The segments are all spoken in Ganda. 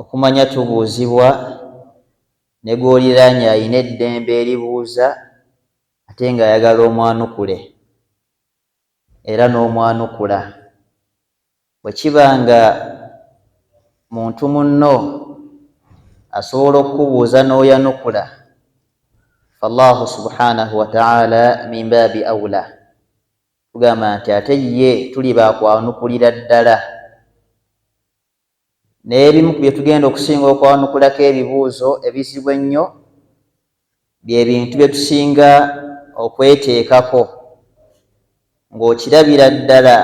Okumanya tubuuzibwa, ne gw'oliraanye alina eddembe eribuuza ate ng'ayagala omwanukule era n'omwanukula. Bwe kiba nga muntu munno asobola okukubuuza n'oyanukula, fAllahu subhaanahu wa ta'aala min baabi awla, tugamba nti ate ye tuli ba kwanukulira ddala. Naye ebimu ku bye tugenda okusinga okwanukulako ebibuuzo ebizibu ennyo bye bintu bye tusinga okweteekako. Ng'okirabira ddala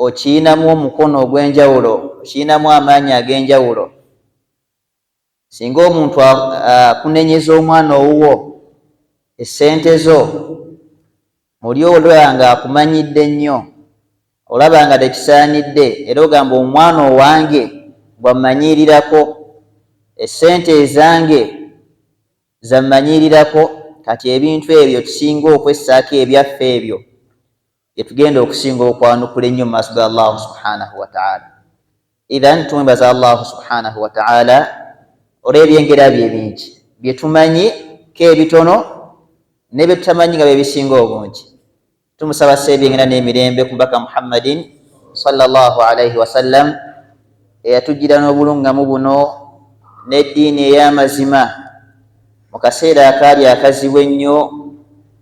okiyinamu omukono ogw'enjawulo? Okiyinamu amaanyi ag'enjawulo? Singa omuntu akunenyeza omwana owuwo essente zo muli olaba nga akumanyidde nnyo olaba nga tekisaanidde era ogamba omwana owange bwammanyiirirako essente ezange zammanyiirirako kati ebintu ebyo tusinga okwessaako ebyaffe ebyo yetugenda okusinga okwanukula ennyo mu maaso ga allahu subhanahu wataala ithan tumwebaza allahu subhanahu wataala olwebyengera bye ebingi byetumanyi ko ebitono nebyetutamanyi nga byebisinga obungi tumusaba sa ebyengera n'emirembe ku mubaka muhammadin salllah alaihi wasallam eyatujjira n'obulungamu buno n'eddiini ey'amazima mu kaseera akaali akazibu ennyo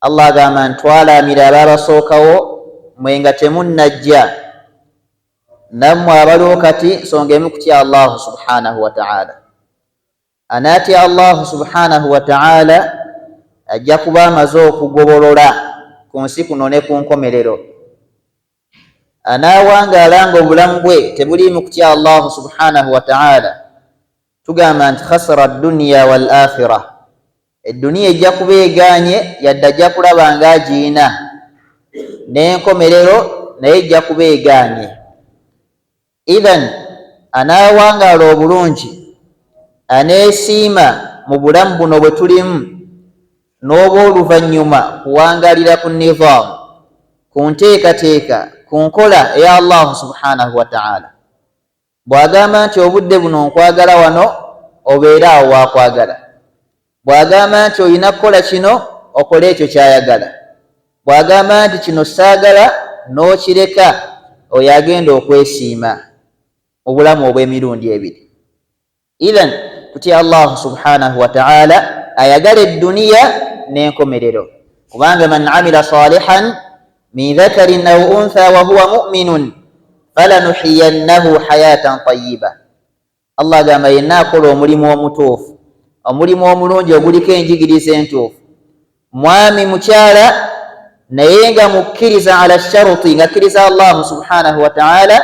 Allah agamba nti twalaamira abaabasookawo mwe nga temunnajja nammwe abaliwo kati nsonga emu kutya allahu subhanahu wataala anaatya allahu subhanahu wataala ajja kuba amaze okugobolola ku nsi kuno ne ku nkomerero anaawangaala nga obulamu bwe tebuliimu kutya Allahu subhanahu wa ta'ala, tugamba nti khasara dunya wal akhira, edduniya ejja kuba egaanye yadde ajja kulaba nga agiyina, n'enkomerero naye ejja kuba egaanye. Idhan anaawangaala obulungi, aneesiima mu bulamu buno bwe tulimu n'obw'oluvannyuma kuwangaalira ku nidhaam, ku nteekateeka, ku nkola eya Allahu subhaanahu wa ta'aala. Bw'agamba nti obudde buno nkwagala wano obeera awo w'akwagala. Bw'agamba nti olina kukola kino, okola ekyo ky'ayagala. Bw'agamba nti kino ssaagala, n'okireka, oyo agenda okwesiima mu bulamu obw'emirundi ebiri. Idhan, tutye Allah subhaanahu wa ta'aala ayagale dduniya n'enkomerero, kubanga, Man amila saalihan min dhakarin aw unthaa wa huwa mu'minun falanuhyiyannahu hayaatan tayyibah. Allah agamba yenna akola omulimu omutuufu omulimu omulungi oguliko enjigiriza entuufu mwami mukyala naye nga mukkiriza ala sharuti nga akkiriza allahu subhanahu wataala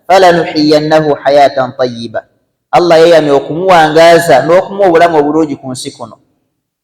falanuhiyannahu hayatan tayiba allah yeyamye okumuwangaaza n'okumuwa obulamu obulungi ku nsi kuno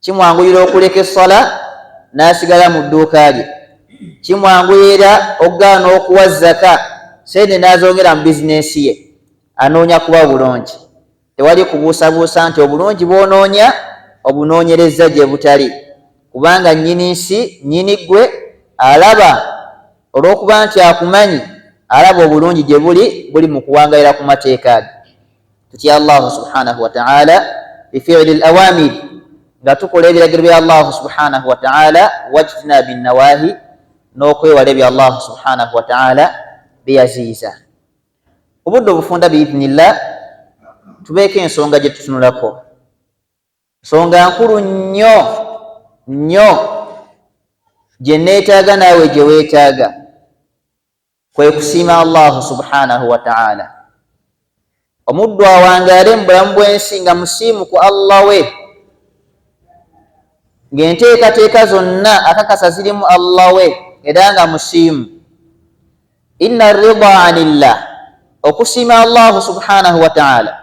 kimwanguyira okuleka essala n'asigala mu dduuka lye kimwanguyira okugaana okuwa zaka sente n'azongera mu bizinensi ye anoonya kuba bulungi tewali kubuusabuusa nti obulungi bw'onoonya obunoonyereza gye butali kubanga nnyini nsi nnyini ggwe alaba olw'okuba nti akumanyi alaba obulungi gye buli buli mu kuwangayira ku mateeka age tutya allahu subhanahu wataala bifili lawamiri nga tukola ebiragiro bya allahu subhanahu wataala wajtina binawahi n'okwewala ebyo allahu subhanahu wataala byeyaziyiza obudde obufunda biidnillah tubeeko ensonga gye tutunulako nsonga nkulu nnyo nnyo gye neetaaga naawe gye weetaaga kwe kusiima Allahu subhanahu wa ta'ala. Omuddu awangaale mu bulamu bw'ensi nga musiimu ku Allah we, ng'enteekateeka zonna akakasa zirimu Allah we era nga musiimu. Inna rida anillah, okusiima Allahu subhanahu wa ta'ala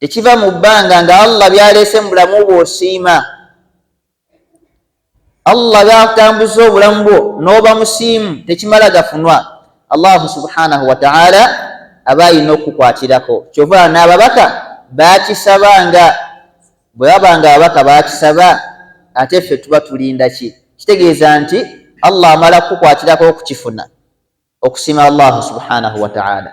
tekiva mu bbanga nga allah byaleese mu bulamu bwo osiima allah byakutambuza obulamu bwo n'oba musiimu tekimala gafunwa allahu subhanahu wataala aba ayina okukukwatirako kyova n'ababaka bakisaba nga bwe baba nga ababaka bakisaba ate ffe tuba tulinda ki kitegeeza nti allah amala kukukwatirako okukifuna okusiima allahu subhanahu wataala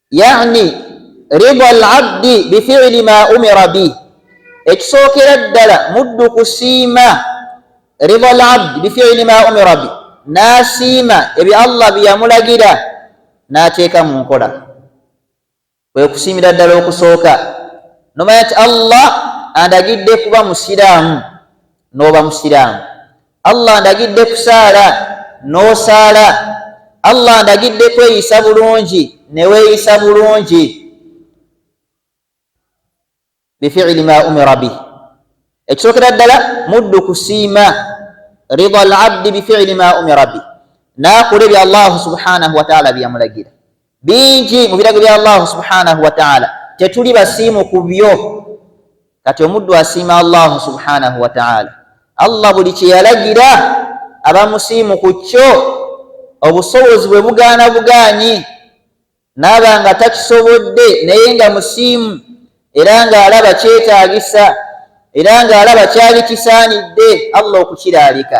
yani rida alabdi bifili ma umira bi ekisookera ddala muddu kusiima rida alabdi bifili ma umira bi n'asiima ebyo allah byeyamulagira n'ateeka mu nkola kwe kusiimira ddala okusooka nomanya nti allah andagidde kuba musiraamu n'oba musiraamu Allah ndagidde kusaala n'osaala Allah ndagidde kweyisa bulungi ne weeyisa bulungi bifiili ma umira bih ekisookera ddala muddu kusiima rida al abdi bifiili ma umira bih n'akola ebyo allahu subhanahu wataala byeyamulagira bingi mu birago bya Allahu subhanahu wa ta'ala tetuli basiimu ku byo kati omuddu asiima Allahu subhanahu wa ta'ala Allah buli kye yalagira aba musiimu ku kyo obusobozi bwe bugaana bugaanyi naaba nga takisobodde naye nga musiimu era ng'alaba kyetaagisa era ng'alaba kyali kisaanidde Allah okukiraalika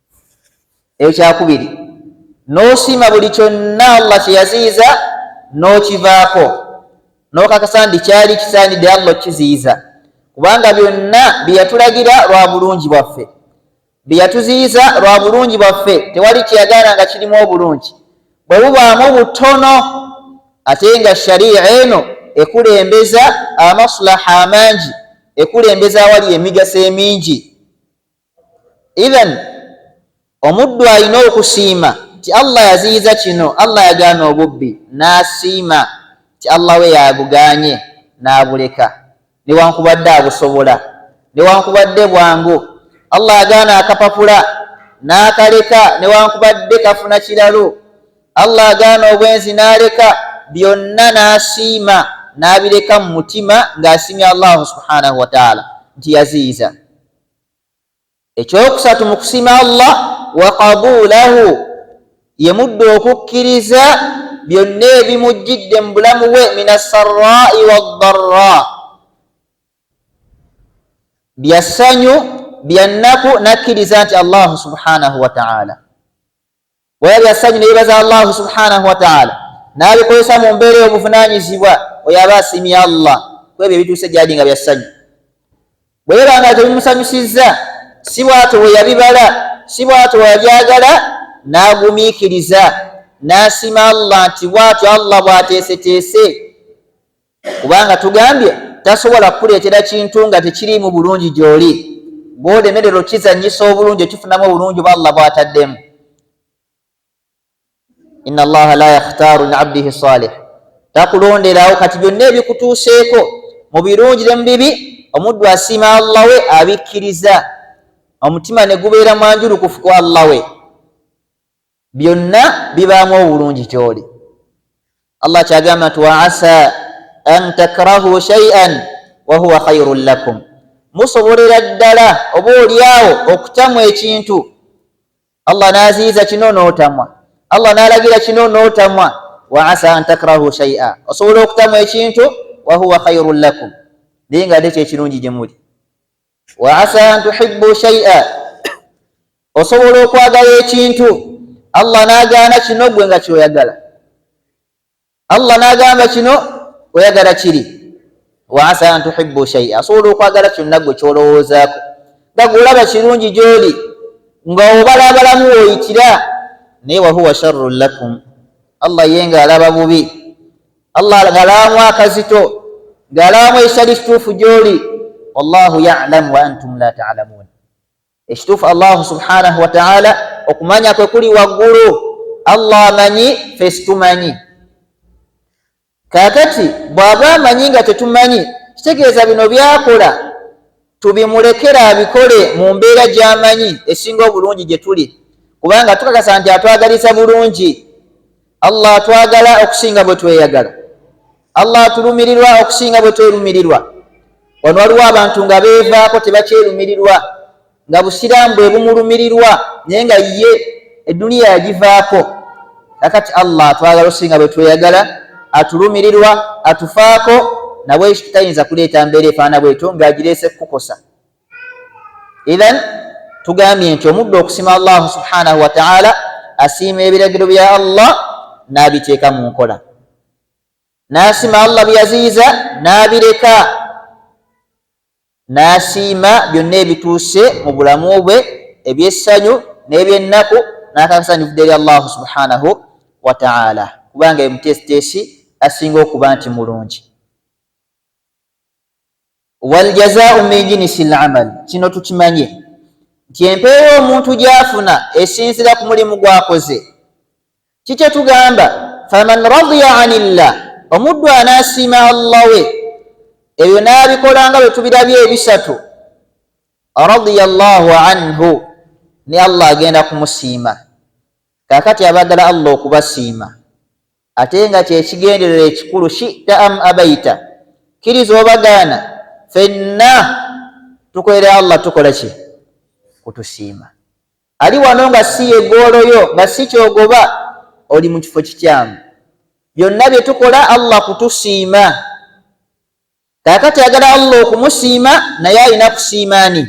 ekyakubiri n'osiima buli kyonna allah kye yaziyiza n'okivaako n'okakasa nti kyali kisaanidde allah okukiziyiza kubanga byonna bye yatulagira lwa bulungi bwaffe bye yatuziyiza lwa bulungi bwaffe tewali kyeyagaana nga kirimu obulungi bwe bubaamu butono ate nga shariya eno ekulembeza amaslaha amangi ekulembeza awali emigaso emingi Idhan omuddu alina okusiima nti Allah yaziyiza kino, Allah yagaana obubbi, n'asiima nti Allah we y'abugaanye n'abuleka newankubadde abusobola newankubadde bwangu, Allah agaana akapapula n'akaleka newankubadde kafuna kiralu, Allah agaana obwenzi n'aleka byonna n'asiima n'abireka mu mutima ng'asiimye Allahu subhaanahu wataala nti yaziyiza. ekyokusatu mu kusima allah wakabulahu ye mudda okukkiriza byonna ebimujjidde mu bulamu bwe min assarai waddarra bya ssanyu bya nnaku nakkiriza nti allahu subhanahu wataala Bwera bya ssanyu ne yebaza Allahu subhanahu wa ta'ala n'abikozesa mu mbeera ey'obuvunaanyizibwa oyo aba asiimye Allah ku ebyo ebituuse gy'ali nga bya ssanyu. Bwe biba nga tebimusanyusizza si bw'atyo bwe yabibala si bw'atyo bwe yabyagala n'agumiikiriza n'asiima Allah nti bw'atyo Allah bw'ateeseteese. kubanga tugambye tasobola kukuleetera kintu nga tekiriimu bulungi gy'oli bw'olemerera okizanyisa obulungi okifunamu obulungi oba allah bw'ataddemu ina allaha la yakhtaaru li abdihi salih takulonderawo kati byonna ebikutuuseeko mu birungi ne mu bibi omuddu asiima allah we abikkiriza omutima ne gubeera mwanjulukufu ku allah we byonna bibaamu obulungi gy'oli allah kyagamba nti wa asa an takrahu shaian wahuwa khairun lakum musobolera ddala oba olyawo okutamwa ekintu allah n'aziyiza kino n'otamwa allah n'alagira kino n'otamwa wa asa an takrahu shaia osobola okutamwa ekintu wahuwa khairun lakum naye nga ate kyekirungi gye muli wa asa an tuhibbu shay'a osobola okwagala ekintu allah n'agaana kino gwe nga kyoyagala allah n'agamba kino oyagala kiri wa asa an tuhibbu shay'a asobola okwagala kyonna gwe kyolowoozaako nga gweolaba kirungi gy'oli nga obala abalamu woyitira naye wahuwa sharrun lakum allah ye nga alaba bubi allah ngalamu akazito ngalamu ekitali kituufu gyoli wallahu yalamu wa antum la talamun ekituufu allahu subhanahu wataala okumanya kwe kuli waggulu allah amanyi fe situmanyi kakati bwaba amanyi nga tetumanyi kitegeeza bino byakola tubimulekere abikole mu mbeera gy'amanyi esinga obulungi gye tuli kubanga tukakasa nti atwagaliza bulungi allah atwagala okusinga bwe tweyagala allah atulumirirwa okusinga bwe twerumirirwa wano waliwo abantu nga beevaako tebakyerumirirwa nga busiraamu bwe bumulumirirwa naye nga ye edduniya yagivaako kakati allah atwagala osinga bwetweyagala atulumirirwa atufaako nabwekyo tayinza kuleeta mbeera efaana bwetyo ngaagireese kukukosa ithan tugambye nti omuddu okusima allahu subhanahu wataala asiima ebiragiro bya allah n'abiteeka mu nkola n'asima allah byeyaziyiza n'abireka N'asiima byonna ebituuse mu bulamu bwe eby'essanyu n'ebyennaku n'akakasa nti bivudde eri Allahu subhaanahu wa ta'aala kubanga ye muteesiteesi asinga okuba nti mulungi. Wal jazaa'u min jinsil amal, kino tukimanye nti empeera omuntu gy'afuna esinziira ku mulimu gw'akoze. kikye tugamba faman radiya anillah omuddu anaasiima allah we ebyo n'abikolanga bwe tubirabye ebisatu radiya llahu anhu ne allah agenda kumusiima kaakati abagala allah okubasiima ate nga kyekigenderera ekikulu shita am abaita kkiriza obagaana fenna tukolera allah tukola ki kutusiima ali wano nga si yegoolo yo nga si kyogoba oli mu kifo kikyamu byonna bye tukola allah kutusiima kakati agala allah okumusiima naye alina kusiimaani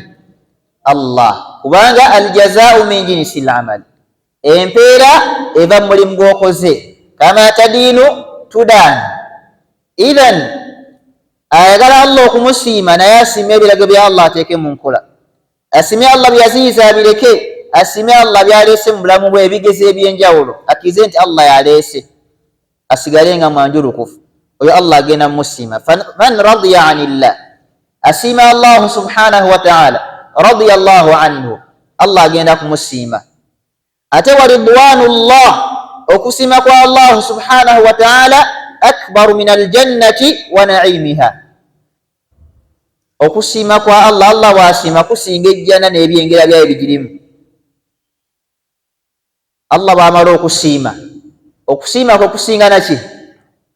allah kubanga aljazaau min jinisi lamali empeera eva mu mulimu gwokoze kama tadiinu tudaani ithan ayagala allah okumusiima naye asiima ebirago bya allah ateeke mu nkola asimye allah byeyaziyiza abireke asimye allah byaleese mu bulamu bwe ebigezo ebyenjawulo akkirize nti allah yaleese asigale nga mwanjulukufu oyo allah agenda musiima man radiya ani llah asiima allahu subhanahu wataala radiya llahu anhu allah agenda kumusiima ate waridwanu llah okusiima kwa allahu subhanahu wataala akbaru min aljannati wa naimiha okusiima kwa allah allah bwasiima kusinga ejjana n'ebyengera byayo bigirimu allah bwamala okusiima okusiima kwe kusinga naki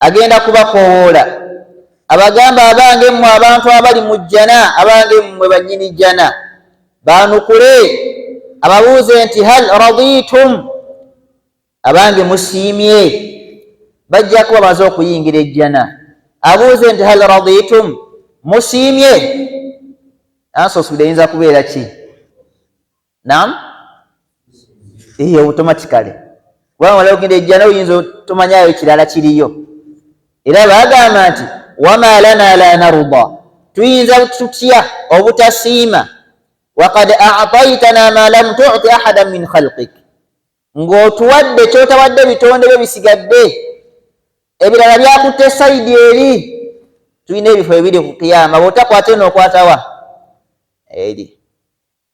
agenda kubakoowoola abagamba abange mmwe abantu abali mu jjana abange mmwe bannyini jjana baanukule ababuuze nti hal raditum abange musiimye bajja kuba bamaze okuyingira ejjana abuuze nti hal raditum musiimye ansosude eyinza kubeera ki nam eyo automatically kubanga mala ogenda ejjana oyinza tomanyayo kirala kiriyo era bagamba nti wama lana la naruda tuyinza tutya obutasiima wakad ataitana ma lam tuti ahada min khalqik ng'otuwadde kyotawadde ebitonde byo bisigadde ebirala byakutte sayidi eri tulina ebifo ebiri ku kiyama bwotakwata eno okwatawa eri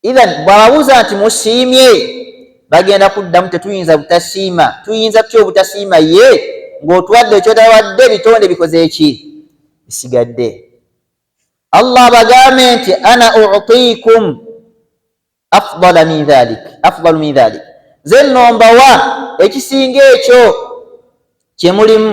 Idhan bw'ababuuza nti musiimye, bagenda kuddamu tetuyinza butasiima. Tuyinza tutya obutasiima ye ng'otuwadde kyotawadde ebitonde bikoze ki bisigadde? Allah abagambe nti ana utiikum afdala min dhalik afdalu min dhalik, nze nno mbawa ekisinga ekyo kye mulimu.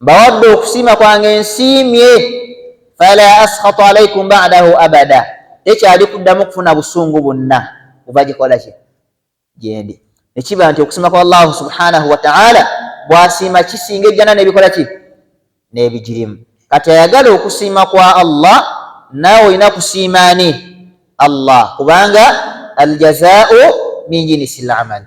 mbawadde okusiima kwange nsiimye fala askhatu alaikum badahu abada tekyali kuddamu kufuna busungu bwonna buva gikola ki gyendi nekiba nti okusiima kwa allahu subhanahu wataala bwasiima kisinga ejjana nebikola ki nebigirimu kati ayagala okusiima kwa allah naawe olina kusiima ani allah kubanga aljazau min jinisi lamal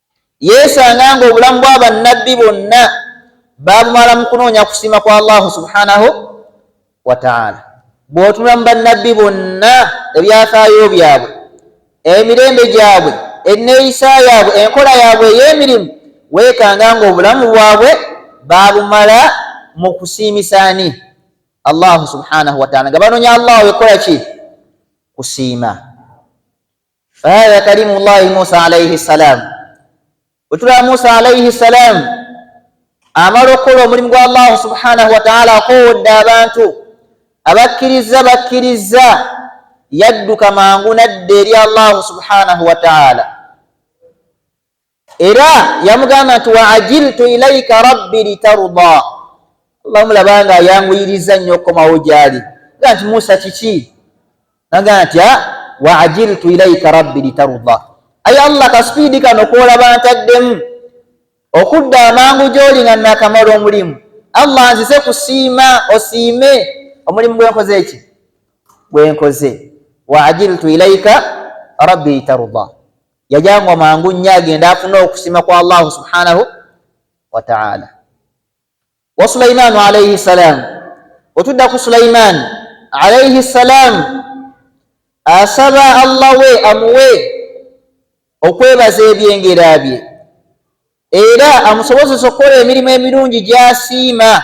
Yeesanga ng'obulamu bwa Bannabbi bonna baabumala mu kunoonya kusiima kwa Allahu subhanahu wa ta'ala. Bw'otunula mu Bannabbi bonna ebyafaayo byabwe, emirembe gyabwe, enneeyisa yaabwe, enkola yaabwe ey'emirimu, weekanga ng'obulamu bwabwe baabumala mu kusiimisa ani? Allahu subhanahu wa ta'ala, nga banoonya Allah wekola ki? Kusiima. Aya ya kalimu llahi Musa alaihi salam, wetulaba Musa alaihi salam amala okukola omulimu gwa Allahu subhanahu wataala akowodde abantu abakkirizza bakkirizza, yadduka mangu nadda eri Allahu subhanahu wataala. era yamugamba nti wa ajiltu ilaika rabbi litaruda allah mulaba nga ayanguyiriza nnyo okukomawo gyali ga nti musa kiki naga nti ah, wa ajiltu ilaika rabbi litaruda aye allah kasipiidi kano kwolaba ntaddemu okudda amangu gyoli nga nakamala omulimu allah nzize kusiima osiime omulimu gwenkoze eki gwenkoze wa ajiltu ilaika rabbi litaruda yajangwa mangu nnyo agende afune okusiima kwa allahu subhanahu wataala wa sulaimaanu alaihi ssalaamu otudda ku sulaimaani alaihi ssalaamu asaba allah we amuwe okwebaza ebyengera bye era amusobozesa okukola emirimu emirungi gyasiima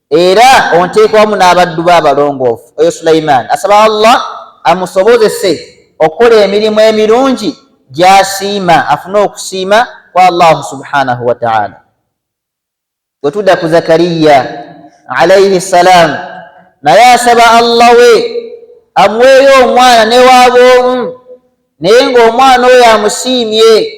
era onteeka wamu n'abaddu be abalongoofu oyo sulaimaani asaba allah amusobozese okukola emirimu emirungi gyasiima afune okusiima kwa allahu subhanahu wataala wetudda ku zakariya alaihi salaamu naye asaba allah we amuweeyo omwana newaaba omu naye ngaomwana oyo amusiimye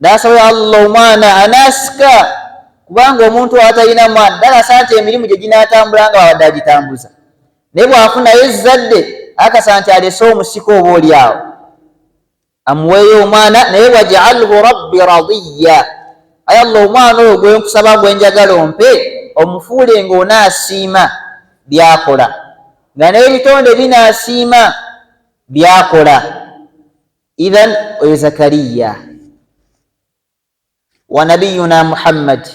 nasaba allah omwana anasika kubanga omuntu atalina mwana dalasa nti emirimu gye ginatambula nga wabadde agitambuza naye bwafunayo ezzadde akasa nti alese omusika oba oli awo amuweeyo omwana naye wajalhu rabbi radiya aye allah omwana oyo gwenkusaba gwenjagala ompe omufuule nga onaasiima byakola nga n'ebitonde binaasiima byakola idhan oyo zakariya wa nabiyuna muhammad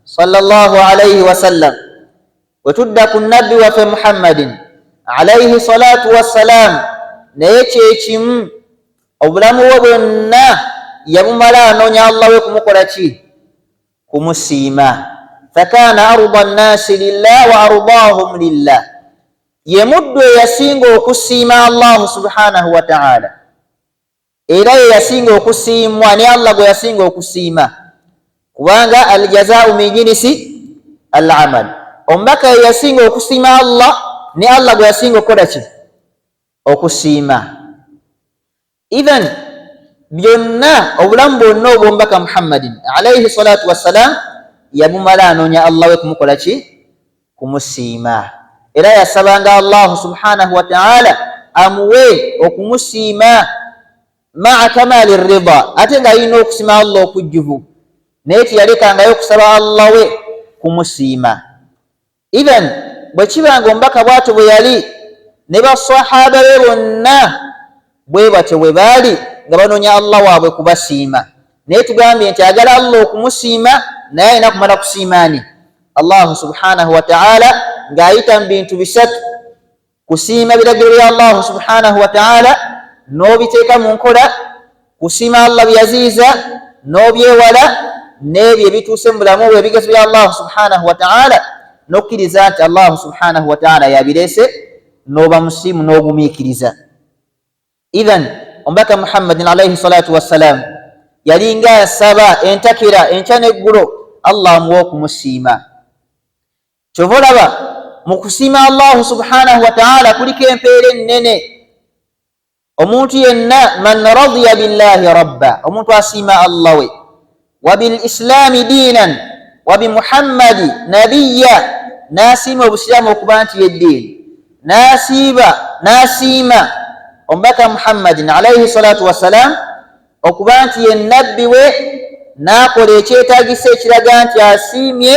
salllah alaihi wasallam wetudda ku nabbi waffe muhammadin alaihi salatu wassalam naye kyekimu obulamu bwe bwonna yabumala anoonya allah we kumukola ki kumusiima fakaana arda nnaasi lillah wa ardaahum lillah ye muddu eyasinga okusiima allahu subhanahu wataala era ye yasinga okusiimwa ne allah gwe yasinga okusiima kubanga aljazaau min jinisi al amal omubaka ye yasinga okusiima allah ne allah gwe yasinga okukola ki okusiima Idhan byonna obulamu bwonna obwomubaka Muhammadin alaihi salatu wassalam yabumala anoonya Allah we kumukola ki kumusiima era yasabanga Allahu subhanahu wataala amuwe okumusiima maa kamali rida ate nga alina okusima Allah okujjuvu naye teyalekangayo okusaba Allah we kumusiima Idhan bwe kiba nga omubaka bwatyo bwe yali ne ba swahaaba be bonna bwe batyo bwe baali nga banoonya Allah waabwe kubasiima naye tugambye nti agala Allah okumusiima naye alina kumala kusiima ani? Allahu subhanahu wa ta'ala ng'ayita mu bintu bisatu Kusiima biragiro bya Allahu subhanahu wa ta'ala n'obiteeka mu nkola, kusiima Allah byaziyiza n'obyewala n'ebyo ebituuse mu bulamu bwe ebigezo bya Allahu subhanahu wa ta'ala n'okkiriza nti Allahu subhanahu wa ta'ala yabireese n'oba musiimu n'ogumiikiriza. Idhan omubaka Muhammadin alaihi salatu wassalaamu yalinga asaba entakira enkya n'eggulo Allah amuwa okumusiima. kyova olaba mu kusiima allahu subhanahu wataala kuliko empeera ennene omuntu yenna man radiya billahi rabba omuntu asiima allah we wabilislaami diinan wabimuhammadi nabiya n'asiima obusiraamu okuba nti yeddiini n'asiiba n'asiima omubaka muhammadin alaihi salatu wassalam okuba nti ye nabbi we n'akola ekyetagisa ekiraga nti asiimye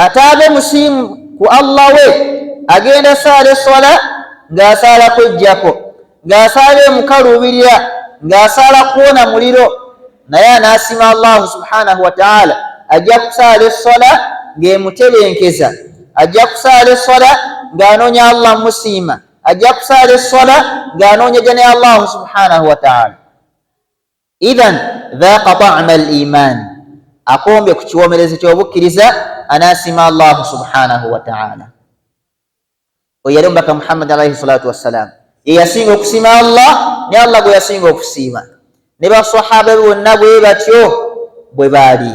Ataabe musiimu ku Allah we agenda saala esswala ng'asaala kweggyako, ng'asaala emukaluubirira, ng'asaala kuwona muliro naye anaasima Allahu subhanahu wa ta'ala ajja kusaala esswala ng'emutebenkeza, ajja kusaala esswala ng'anoonya Allah musiima, ajja kusaala esswala ng'anoonya gya ne Allahu subhanahu wa ta'ala. idhan dhaaqa ta'ama al-iimaani akombye ku kiwoomerezo ky'obukkiriza anaasiima allahu subhanahu wa ta'ala oyo yali omubaka muhammad alaihi salatu wassalam ye yasinga okusiima allah ne allah gwe yasinga okusiima ne basahaba bonna bwe batyo bwe baali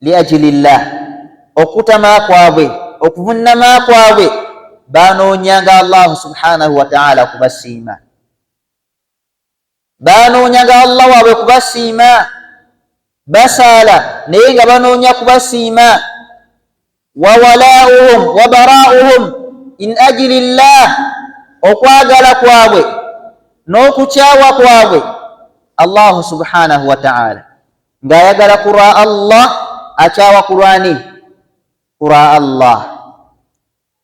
Liajilillah, okutama kwabwe, okuvunnama kwabwe, baanoonyanga Allahu subhanahu wa ta'ala okubasiima, baanoonyanga Allah waabwe kubasiima, basaala naye nga banoonya kubasiima. wawalauhum wabarauhum in ajili llah okwagala kwabwe n'okukyawa kwabwe allahu subhanahu wataala ng'ayagala ku lwa allah akyawa ku lwani ku lwa allah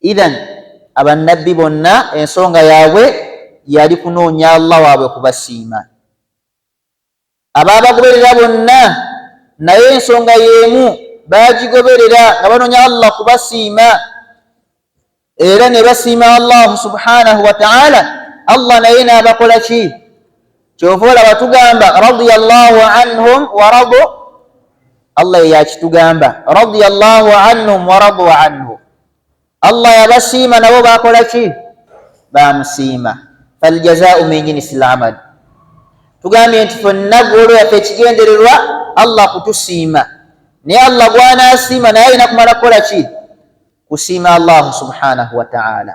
idhan abannabbi bonna ensonga yaabwe yali kunoonya allah waabwe kubasiima abaabagoberera bonna naye ensonga y'emu baagigoberera nga banoonya allah kubasiima era ne basiima allahu subhanahu wataala allah naye n'abakola ki kyova olaba tugamba radiyallahu anhum waradu allah eyakitugamba radiyallahu anhum waradu anhu allah yabasiima nabo bakola ki bamusiima faljazau min jinsi lamal tugambye nti fonna golo yaffe ekigendererwa allah kutusiima naye allah gwanasiima naye alina kumala kukola ki kusiima allahu subhanahu wataala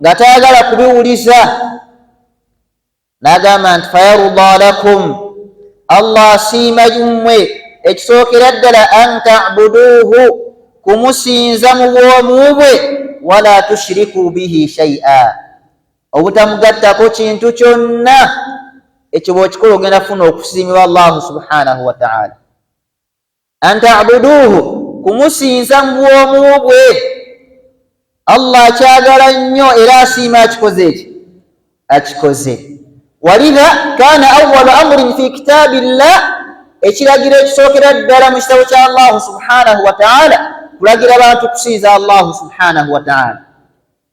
nga tayagala kubiwuliza n'agamba nti fayaruda lakum allah asiima yummwe ekisookera ddala an tabuduuhu kumusinza mu bwomu bwe wala tushiriku bihi shaia obutamugattako kintu kyonna ekyo bwokikola ogenda kufuna okusiimibwa allahu subhanahu wataala antabuduuhu kumusinza mu bwomu bwe allah akyagala nnyo era asiima akikoze eki akikoze walidha kana awalu amurin fi kitaabi llah ekiragiro ekisookera ddala mu kitabo kya allahu subhanahu wataala kulagira bantu kusinza allahu subhanahu wataala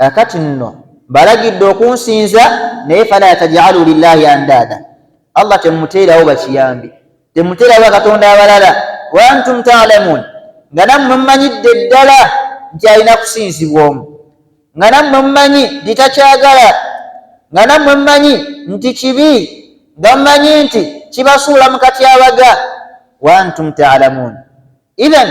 Kakati nno mbalagidde okunsinza naye fala tajalu lillahi andaada, Allah temumuteerawo bakiyambi, temumuteerawo bakatonda abalala, wa antum taalamuun, nga nammwe mumanyidde ddala nti alina kusinzibwa omu, nga nammwe mumanyi nti takyagala, nga nammwe mumanyi nti kibi, nga mumanyi nti kibasuula mu katyabaga, wa antum taalamuun, idhan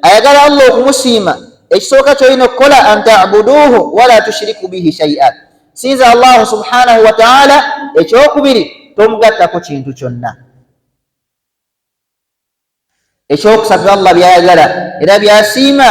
ayagala allah okumusiima ekisooka kyolina okukola an tabuduuhu wala tushiriku bihi shaia sinza allahu subhanahu wataala ekyokubiri tomugattako kintu kyonna ekyokusatu allah byayagala era byasiima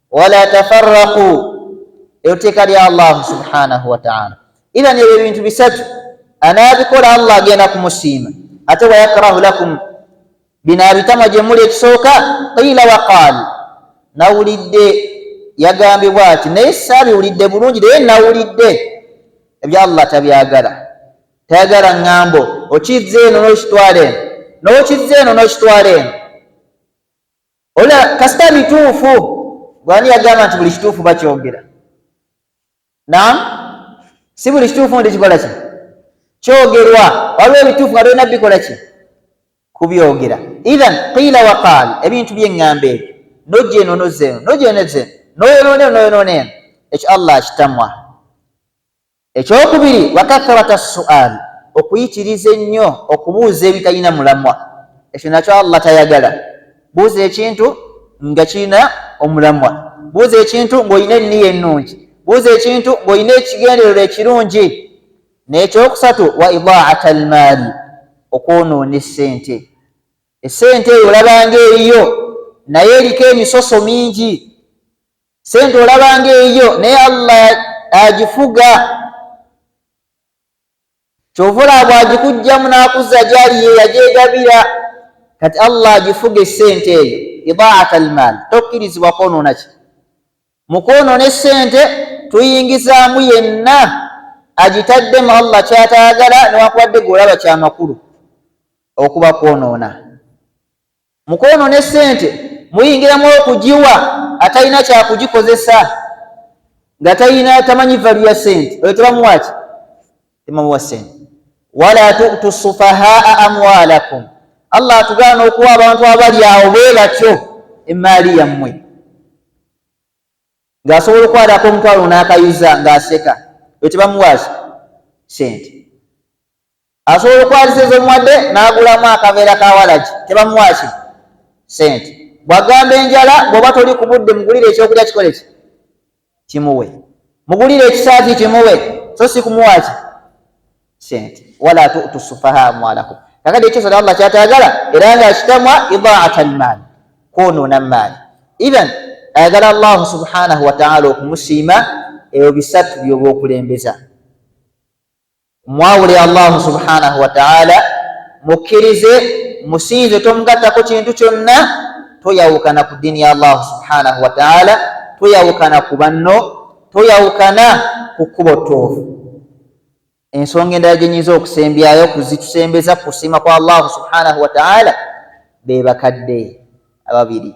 wala tafarraqu eyo teeka lya allahu subhanahu wataala iran ebyo ebintu bisatu anaabikola allah agenda kumusiima ate wayakrahu lakum bino abitamwa gye muli ekisooka qiila waqaal nawulidde yagambibwa ati naye saabiwulidde bulungi naye nawulidde ebya allah tabyagala tayagala ŋŋambo okizza eno n'okitwala eno n'okizza eno n'okitwala eno Ola kasita bituufu bwani yagamba nti buli kituufu bakyogera nam si buli kituufu nti kikola ki kyogerwa waliwo ebituufu nga tolina bikola ki kubyogera ithan qiila waqaal ebintu byeŋŋamba ebyo nojja eno nozza eno nojja eno ezza eno noyonoona eno noyonoona eno ekyo allah akitamwa Ekyokubiri, wakathrata sual, okuyitiriza ennyo okubuuza ebitalina mulamwa, ekyo nakyo Allah tayagala, buuza ekintu nga kirina omulamwa, buuza ekintu nga olina enniya ennungi, buuza ekintu nga olina ekigendererwa ekirungi, n'ekyokusatu, wa idhaat almaali, okwonoona essente, essente eyo olabanga eriyo naye eriko emisoso mingi. sente olaba nga eyiyo naye allah agifuga kyova olaba bwagikugjamu nakuzza gyali ye yagyegabira kati allah agifuga esente eyo idaat almaal tokkirizibwa kwonoonaki mu kwonoona esente tuyingizaamu yenna agitaddemu allah kyataagala newankubadde gwe olaba kyamakulu okuba kwonoona Mu kwonoona essente muyingiramu okugiwa atalina kyakugikozesa nga talina tamanyi valu ya sente oyo tebamuwaki temamuwa sente wala tutu sufahaa amwalakum allah atugaana okuwa abantu abali awo bwe batyo emaali yammwe ng'asobola okwalako omutwalo n'akayuza ng'aseka oyo tebamuwaki sente asobola okwazisa ezomuwadde n'agulamu akaveera ka walagi tebamuwaaki sente bwagamba enjala bwoba toli ku budde mugulire ekyokulya kikole ki kimuwe mugulire ekisaati kimuwe so si kumuwaaki sente wala tutu sufaha amwalakum kakati ekyo sona allah kyatagala era nga akitamwa idaata almaali kwonoona maali ithan ayagala allahu subhanahu wataala okumusiima ebyo bisatu byoba okulembeza Mwawule Allahu subhanahu wa ta'ala, mukkirize musinze, tomugattako kintu kyonna, toyawukana ku ddiini ya Allahu subhanahu wa ta'ala, toyawukana ku banno, toyawukana ku kkubo ttuufu. Ensonga endala gye nyinza okusembyayo kuzitusembeza ku kusiima kwa Allahu subhanahu wa ta'ala be bakadde ababiri.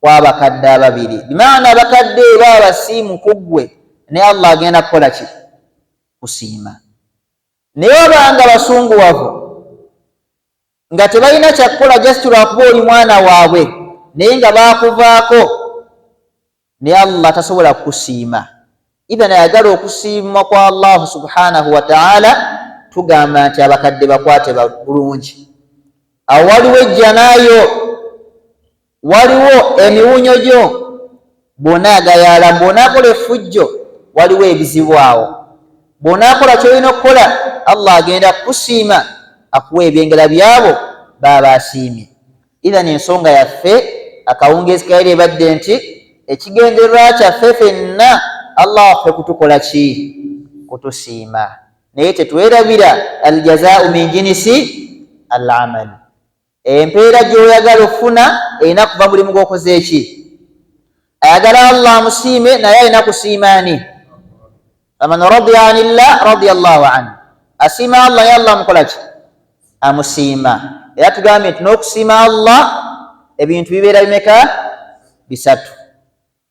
kwabakadde ababiri bimaana abakadde eba abasiimu kuggwe ne allah agenda kukola ki kusiima naye obanga basunguwavu nga tebalina kyakukola just lwakuba oli mwana waabwe naye nga baakuvaako ne allah tasobola kukusiima idhan ayagala okusiima kwa allahu subhanahu wataala tugamba nti abakadde bakwate bulungi awo waliwo ejjanayo waliwo emiwunyo gyo bw'onaagayaala bw'onaakola effujjo waliwo ebizibu awo bw'onaakola ky'olina okukola allah agenda kukusiima akuwa ebyengera byabo baaba asiimye idhan ensonga yaffe akawungeezi kayera ebadde nti ekigendererwa kyaffe fenna allah waffe kutukola ki kutusiima naye tetwerabira aljazaau min jinisi al amali Empeera gy'oyagala okufuna erina kuva mulimu gw'okoze ki? Ayagala Allah amusiime naye alina kusiima ani? Faman radiya anillah radiya llahu anhu, asiima Allah naye Allah amukola ki? Amusiima. Era tugambye nti n'okusiima Allah ebintu bibeera bimeka? Bisatu.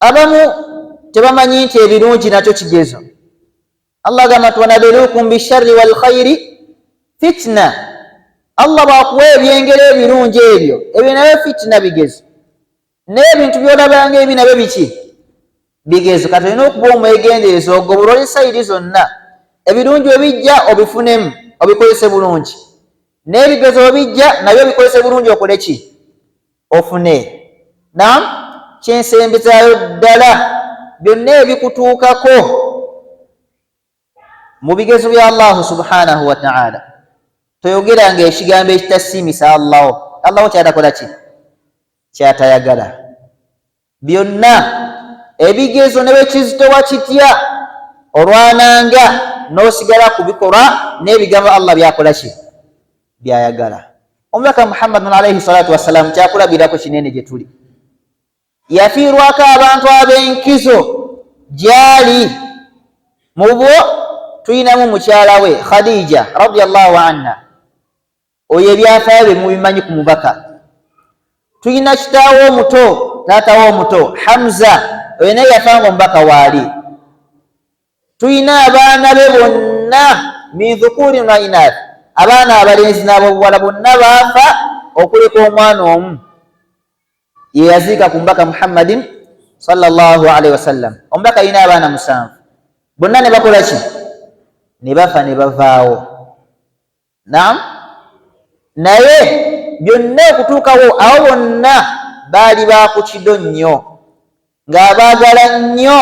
Abamu tebamanyi nti ebirungi nakyo kigezo. Allah agamba nti wanabeluukum bisharri wal khairi fitina. Allah bwakuwa ebyengera ebirungi ebyo ebyo nabyo fitina bigezo, naye ebintu byolabanga ebi nabyo biki bigezo. Kati olina okuba omwegendereza ogobolole sayidi zonna, ebirungi webijja obifunemu obikozese bulungi, n'ebigezo webijja nabyo obikozese bulungi okole ki ofune nam kyensembezaayo ddala byonna ebikutuukako mu bigezo bya allahu subhanahu wataala toyogeranga ekigambo ekitasiimisa allahu allahu kyatakola ki kyatayagala byonna ebigezo ne bwe kizitowa kitya olwananga n'osigala ku bikolwa n'ebigambo allah byakola ki byayagala omubaka muhammadun alaihi salatu wassalaamu kyakulabirako kinene gye tuli yafiirwako abantu ab'enkizo gyali mu bwo tulinamu mukyala we khadija radiallahu anha Oyo ebyafaayo bye mubimanyi ku mubaka. Tulina kitaawo omuto, taatawo omuto Hamza, oyo naye yafa nga omubaka waali. Tulina abaana be bonna min dhukurin wa inath, abaana abalenzi n'abobuwala bonna baafa okuleka omwana omu ye yaziika ku mubaka Muhammadin sallallahu alaihi wasallam. Omubaka alina abaana musanvu, bonna ne bakola ki? Ne bafa ne bavaawo. Naam, naye byonna okutuukawo abo bonna baali baakukido nnyo ng'abaagala nnyo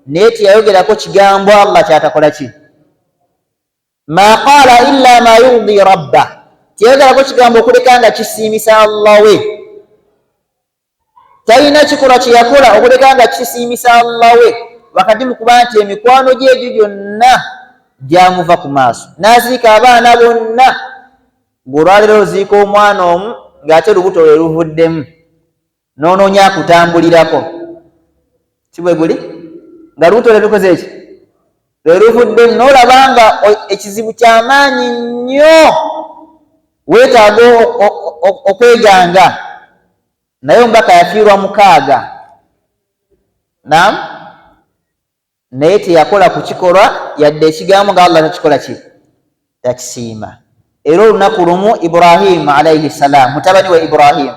naye teyayogerako kigambo Allah kyatakola ki ma qaala illa ma yurdi rabba teyayogerako kigambo okuleka nga kisiimisa Allah we Talina kikolwa kye yakola okuleka nga kisiimisa Allah we wakati mu kuba nti emikwano gye egyo gyonna gyamuva ku maaso n'aziika abaana bonna ng'olwaleero oziika omwana omu ng'ate lubuto lwe luvuddemu n'onoonya akutambulirako si bwe guli nga lubuto lwe lukoze eki lwe luvudde n'olaba nga ekizibu ky'amaanyi nnyo weetaaga okweganga naye omubaka yafiirwa mukaaga nam naye teyakola ku kikolwa yadde ekigambo nga allah takikola ki takisiima era olunaku lumu ibrahimu alaihi ssalaam mutabani wa ibrahimu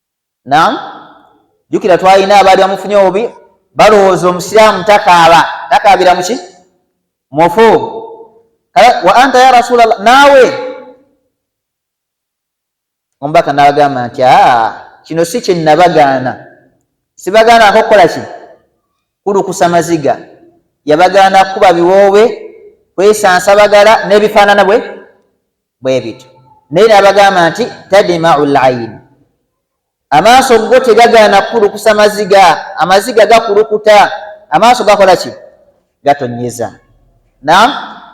Naam, jukira twalina abaali bamufunye obubi balowooza omusiraamu takaaba takaabira muki mufu wa anta ya rasulllah naawe omubaka nabagamba nti kino si kyenabagaana sibagaana akokukola ki kulukusa maziga yabagaana kukuba biwoobe kwesansa bagala n'ebifaanana bwe bwe bityo naye n'abagamba nti tadimau laini amaaso go tegagaana kukulukusa maziga amaziga gakulukuta amaaso gakola ki gatonyeza na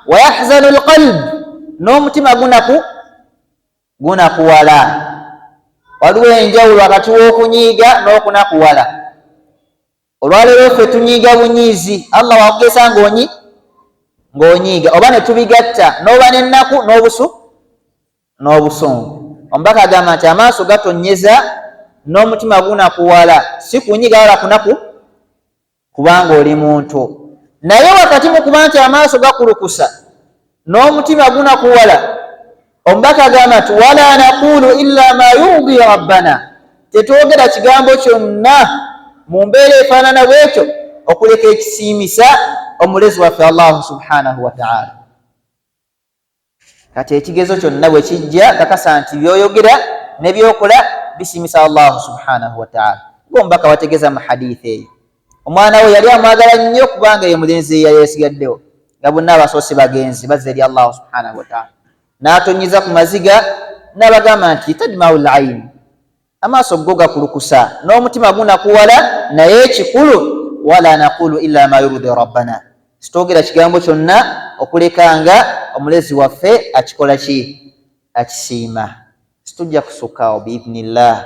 wayahzanu lqalb n'omutima gunaku gunakuwala waliwo enjawulo wakati w'okunyiiga n'okunakuwala Olwaleero ffe tunyiiga bunyiizi, Allah wakugeza ng'onyi ng'onyiiga oba ne tubigatta n'oba n'ennaku n'obusu n'obusungu. Omubaka agamba nti amaaso gatonnyeza n'omutima gunakuwala, si kunyiga wala kunaku kubanga oli muntu. Naye wakati mu kuba nti amaaso gakulukusa n'omutima gunakuwala omubaka agamba nti wala naqulu illa ma yurdi rabbana tetwogera kigambo kyonna mu mbeera efaanana bwekyo okuleka ekisiimisa omulezi waffe allahu subhanahu wataala kati ekigezo kyonna bwe kijja kakasa nti byoyogera nebyokola bisiimisa allahu subhanahu wataala ngaomubaka wategeeza mu haditha eyo omwana we yali amwagala nnyo kubanga ye mulenzi eya yesigaddewo nga bonna abasoose bagenzi bazza eri allahu subhanahu wataala n'atonyiza ku maziga n'abagamba nti tadmau laini amaaso go gakulukusa n'omutima gunakuwala naye ekikulu wala naqulu ila ma yurudi rabbana sitwogera kigambo kyonna okuleka nga omulezi waffe akikola ki akisiima situjja kusukaawo biidnillah